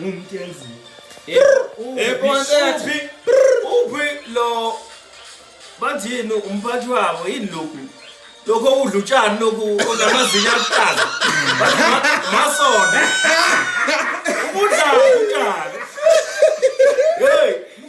Ngumntu yenziwe. Ekonsethi uphi lo bathini umphathi wabo yini lokhu lokho okudla utshani lokhu onamazinyo aluhlaza masona ubudlala utshani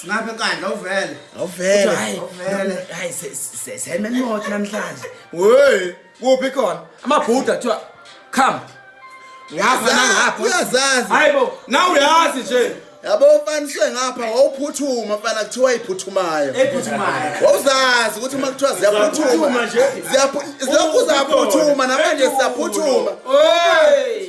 Singaphe kandla uvele. Awuvele. Hayi. Awuvele. Hayi se- se- seme imoto namhlanje. Hey, kuphi khona? Amabhuda kuthiwa come. Ngapha nangapha. Uyazazi. Hayibo, nawe uyazi nje. Yabo ufaniswe ngapha wawuphuthuma mfana kuthiwa iphuthumayo. Ephuthumayo. Wawuzazi ukuthi uma kuthiwa Ziyaphuthuma ziyaphuthuma. nje. Ziyaphu- Zilokhu zaphuthuma namanje siyaphuthuma. Hey!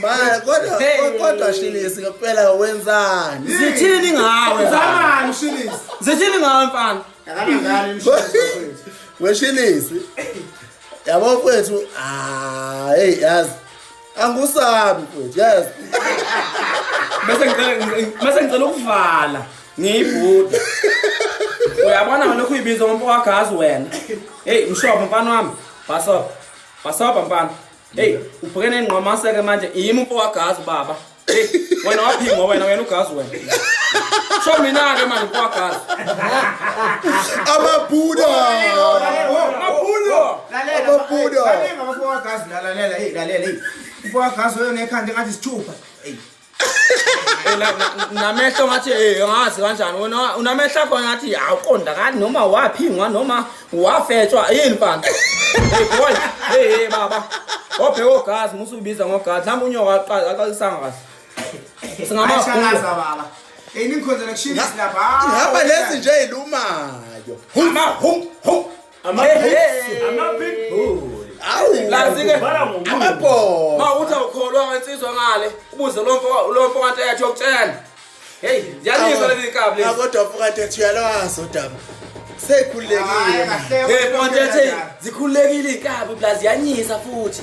Mara kodwa kodwa Shilisi ngempela wenzani? Zithini ngawe? Zamani Shilisi? Zithini ngawe mfana? Akanangani mshini. Weshilisi. Yabo mfethu, ah hey yazi. Angusabi mfethu, yazi. Bese ngicela bese ngicela ukuvala. Ngiyibhuda. Uyabona ngalo kuyibiza umuntu wagazi wena. Hey mshoba mfana wami. Basoba. Basoba mfana. Hey, ubhekene nengqwamasa ke manje yimi umfo wagazi baba. Hey, wena waphingwa wena wena ugazi wena. Sho mina ke manje umfo wagazi. Amabuda. Amabuda. Lalela. Amabuda. Lalela umfo wagazi lalela hey lalela hey. Umfo wagazi wena ekhanda ngathi sithupha. Hey. namehlo ngathi eh ngazi kanjani wena unamehlo akho ngathi awuqondakali noma waphingwa noma wafetshwa yini mfana hey boy hey hey baba obheka ogazi musu ubiza ngogazi nami unyoka aqala aqalisanga kahle singamashalaza baba eyiningikhonzela kushintsha lapha ngihamba lezi nje ilumayo huma hum hum amabhoma uthi awukholwa ngensizwa ngale ubuze lomfo kanti eyathi yokutshela heyi yaniswa leli kabi kodwa mfo kanti ethi uyalwazi udaba seyikhululekile zikhululekile iy'nkabi plus yanyisa futhi